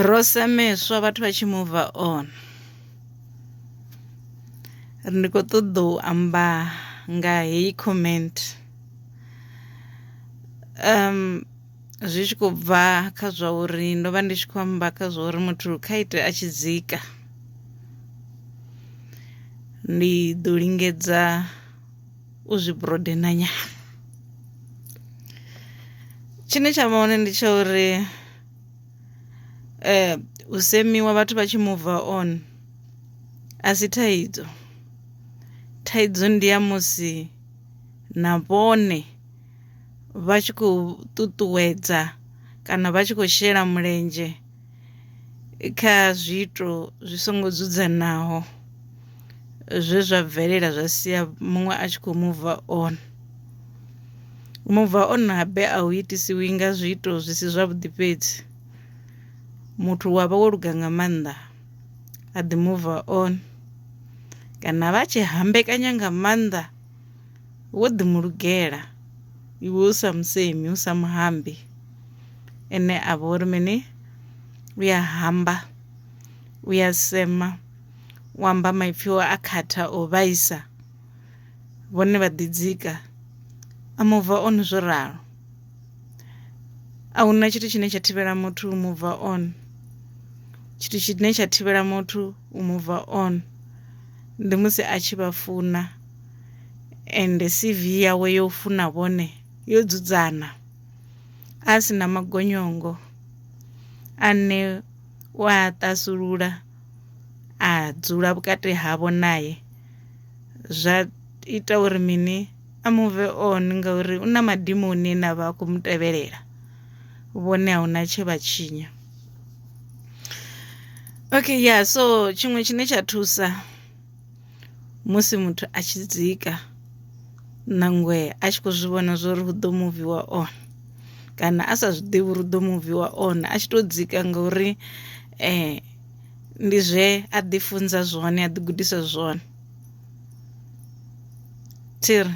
Ro semeswa vhathu vha tshi move on ri ndi kho ṱoḓa u amba nga heyi comment zwi tshi khou bva kha zwa uri ndo vha ndi tshi khou amba kha zwa uri muthu kha ite a tshi dzika ndi ḓo lingedza u zwi broadener nyana tshine tsha vha hone ndi tsha uri. eh u semiwa vhathu vha tshi move on a si thaidzo thaidzo ndi ya musi na vhone vha tshi khou ṱuṱuwedza kana vha tshi khou shela mulenzhe kha zwiito zwi songo dzudzanaho. zwe zwa bvelela zwa sia muṅwe a tshi khou muva on muva on habe a u itisiwi nga zwiito zwi si zwavhuḓi fhedzi muthu wa vha wo luga nga maanḓa a ḓi muva on kana vha tshi hambekanya nga maanḓa wo ḓi mu lugela iwe u sa musemi u sa muhambi ene a vha uri mini u ya hamba u ya sema. u amba maipfi o a khatha o vhaisa vhone vha ḓidzika a mubva on zwo ralo a huna tshithu tshine tsha thivhela muthu u mubva on tshithu tshine tsha thivhela muthu u mubva on ndi musi a tshi vha funa ende CV yawe yo funa vhone yo dzudzana a si na magonyongo ane u a ṱasulula. a dzula vhukati havho nae zwa ita uri mini a move on ngauri u na madimoni ane a vha a khou mu tevhelela vhone a huna tshe vha tshinya okay ya yeah, so tshiṅwe tshine tsha thusa musi muthu a tshi dzika nangwe a tshi khou zwi vhona zwo ri hu ḓo muviwa on kana a sa zwi ḓivhi uri ḓo muviwa on a tshi to dzika ngauri eh ndi zwe a ḓi funza zwone a ḓi gudisa zwone thiri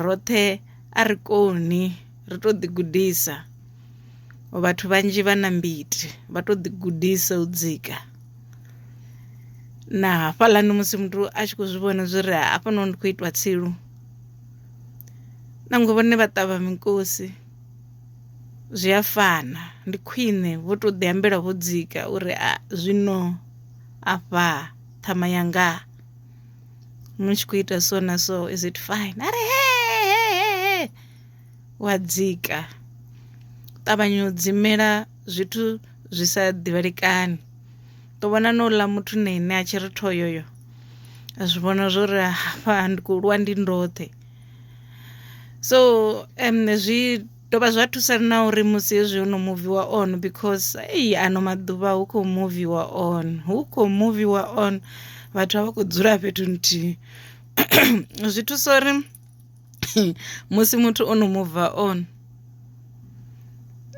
roṱhe a ri koni ri to ḓi gudisa vhathu vhanzhi vha na mbiti vha to ḓi gudisa u dzika na hafhaḽani musi muthu a tshi khou zwi vhona zwi ri hafhanoni ndi khou itwa tsilu nangwe vhone vha ṱavha mikosi zwi a fana ndi khwine vho to ḓi ambela vho dzika uri a zwino afha ṱhama yanga mu tshi khou ita so na so is it fine a ri he he he he wa dzika ṱavhanya u dzimela zwithu zwi sa ḓivhalekani to vhona na uḽa muthu na ine a tshi ri thoyoyo a zwi vhona zwori hafha ndi khou lwa ndi ndoṱhe. so zwi dovha zwa thusa na uri musi hezwi ho no muviwa on because ei ano maḓuvha hu khou muviwa on hu khou muviwa on vhathu a vha khou dzula fhethu nthihi zwi thusa uri musi muthu o no muva on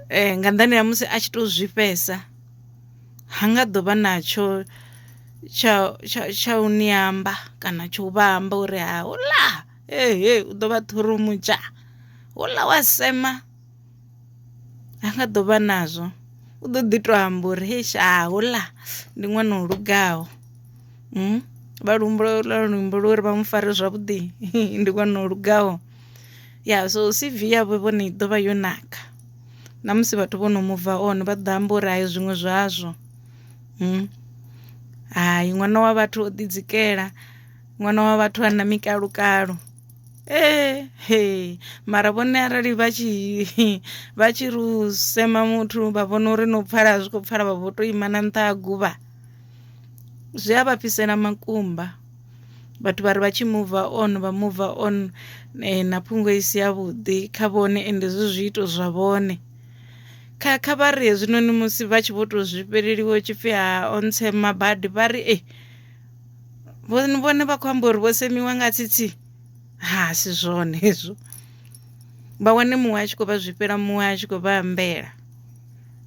eh, nga nḓani ha musi a tshi tou zwifhesa ha nga ḓo vha na tsho tsha tsha tsha u ni amba kana tsho vha amba uri ha hula ehe u ḓo vha ṱhurumutsha hula wa sema ha nga ḓo vha nazwo u ḓo ḓi to amba uri he sha hula ndi ṅwana o lugaho vha luambo lwa luimbo lwa uri vha mu fare zwavhuḓi ndi ṅwana o lugaho. ya so C_V yavho vhone i ḓovha yo naka na musi vhathu vho no mubva on vha ḓo amba uri hai zwiṅwe zwazwo hai ṅwana wa vhathu o ḓi dzikela ṅwana wa vhathu a na mikalukalo mara vhone arali vha tshi vha tshi ri u sema muthu vha vhona uri no pfala a zwi kho pfala vha vho to ima na nṱha ha guvha zwi a vha fhisela makumba. vhathu vha ri vha tshi move on vha move on eh, na phungo i si yavhuḓi kha vhone ende zwi zwiito zwa vhone kha kha vha ri hezwinoni musi vha tshi vho to zwi fheleliwa tshipfi ha ontshe mabadi vha ri e vhone vha khou amba uri vho semiwa nga tsitsi ha si zwone hezwo vha wane muṅwe a tshi khou vha zwifhela muṅwe a tshi khou vha ambela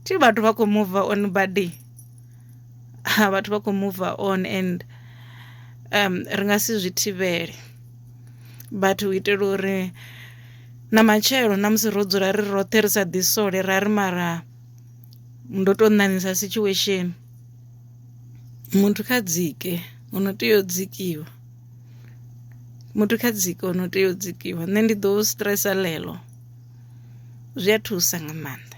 thi vhathu vha khou move on badi ha vhathu vha khou mover on and um ri nga si zwi thivhele but u itela uri na matshelo na musi ro dzula ri roṱhe ri sa ḓi sole ra ri mara ndo to ṋaṋisa situation muthu kha dzike u no tea u dzikiwa muthu kha dzike u no tea u dzikiwa nṋe ndi ḓo stress ḽeḽo zwi a thusa nga maanḓa.